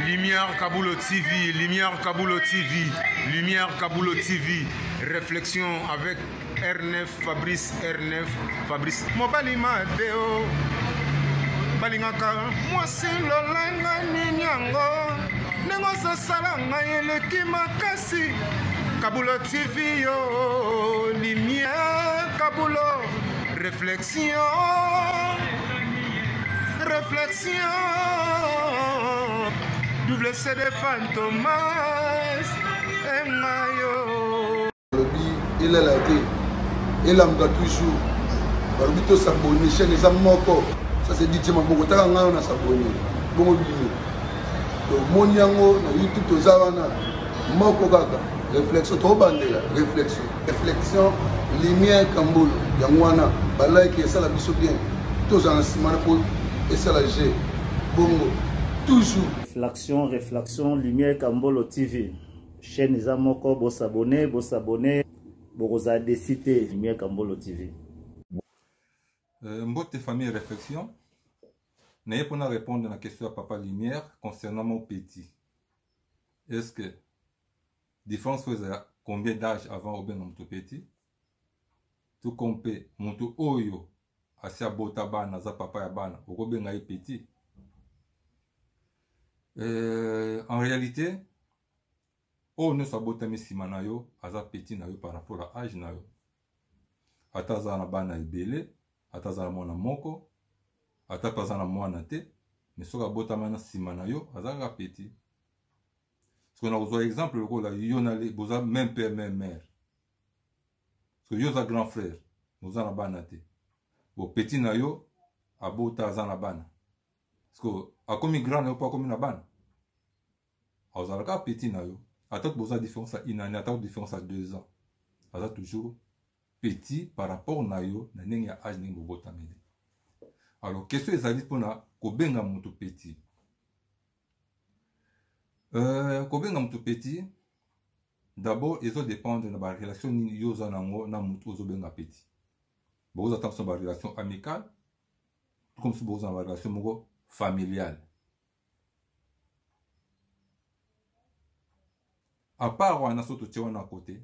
Lumière Kabulo TV, Lumière Kabulo TV, Lumière Kabulo TV, réflexion avec R9, Fabrice R9, Fabrice. Mobali Mateo, balingaka mwasi lolanga nini yango ndenge ozosala ngai eleki makasi Kabulo TV yo, Lumière Kabulo, réflexion. Réflexion, double CD Fantomas, et Mayo. Il est là, il est là, toujours. balobi tosabone chaine eza moko ça c'est dit maboko taka ngai wana sabone bongo bino tomoni yango na youtube toza wana moko kaka réflexion tobandela réflexion reflexion lumière kambolo yango wana balike esala biso bien tozala na nsima na po esala je bongo toujours reflexion reflexion lumière kambolo tv chaîne eza moko bosabone bosabone bokozala desi te lumière kambolo tv euh, mbote famille réflexion naye mpona répondre na question ya papa lumière concernant mon petit est ce que Difference faut ezala combien d'âge avant obenga moto petit tout comme mpe moto oyo asi abota bana aza papa ya bana okobenga ye petit euh, en réalité oyo nyonso abotami nsima na yo aza petit na yo par rapport ya age na yo ata aza na bana ebele ata aza na mwana moko ata mpe aza na mwana te me soki abotama na nsima na yo aza kaka petit siko nakozwa exemple lokola yo na le boza même père même mère siko yo oza grand frère oza na bana te bo petit na yo abota aza na bana siko akomi grand na yo mpo akomi na bana azala kaka petit na yo atako boza différence ya une année atako différence ya deux ans aza toujours petit par rapport na yo na ndenge ya age ndenge bobotameli alors question ezali mpona kobenga moto petit Euh, kobenga moto petit d'abord ezo dépendre na barelation nini yo oza nango na moto ozobenga petit bokoza ta mosusu na barelation amicale to mosusu bokoza na barelation moko familiale apart wana so totie wana kote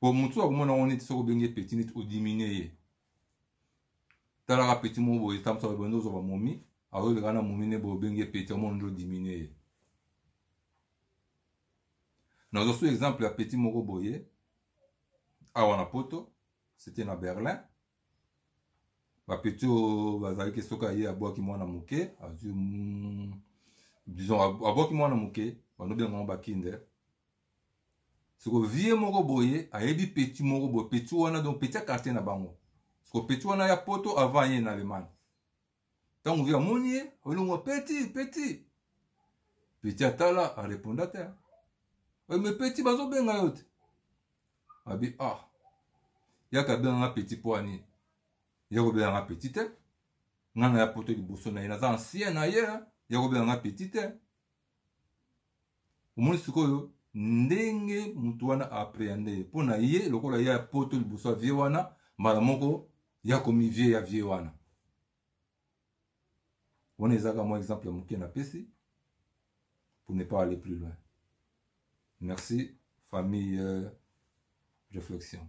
po motu akomona yango neti soki obenge petit neti odiminue ye talaka petit moko boye tambusa bando ozwa bamomi azoleka na momi ne boye obenge petit omona nde odiminue ye nazwa su exemple ya petit moko boye awa na poto c'était na berlin bapeti oyo bazalaki soki aye abwaki mwana moke azwi mm, disons abwaki mwana moke banobenga yango bakinde siko vie moko boye ayebi petit moko boye petit wana donc petit ya quartier na bango siko petit wana ya poto avant ye na allemagne ntango vie amoni ye olongo petit petit petit atala areponda te me petit bazobenga yo te abi ah yaka abenga nga petit mpo ya nini ya kobenga nga petit te nga na ya poto liboso na ye naza ancien na ye ya kobenga nga petit te omoni sikoyo ndenge motu wana aaprehende ye mpo na ye lokola ye ya poto liboso ya vie wana mbala moko yakomi vie ya vie wana wana ezaka mwa exemple ya moke napesi pour ne pas aller plus loin merci famille euh, réflexion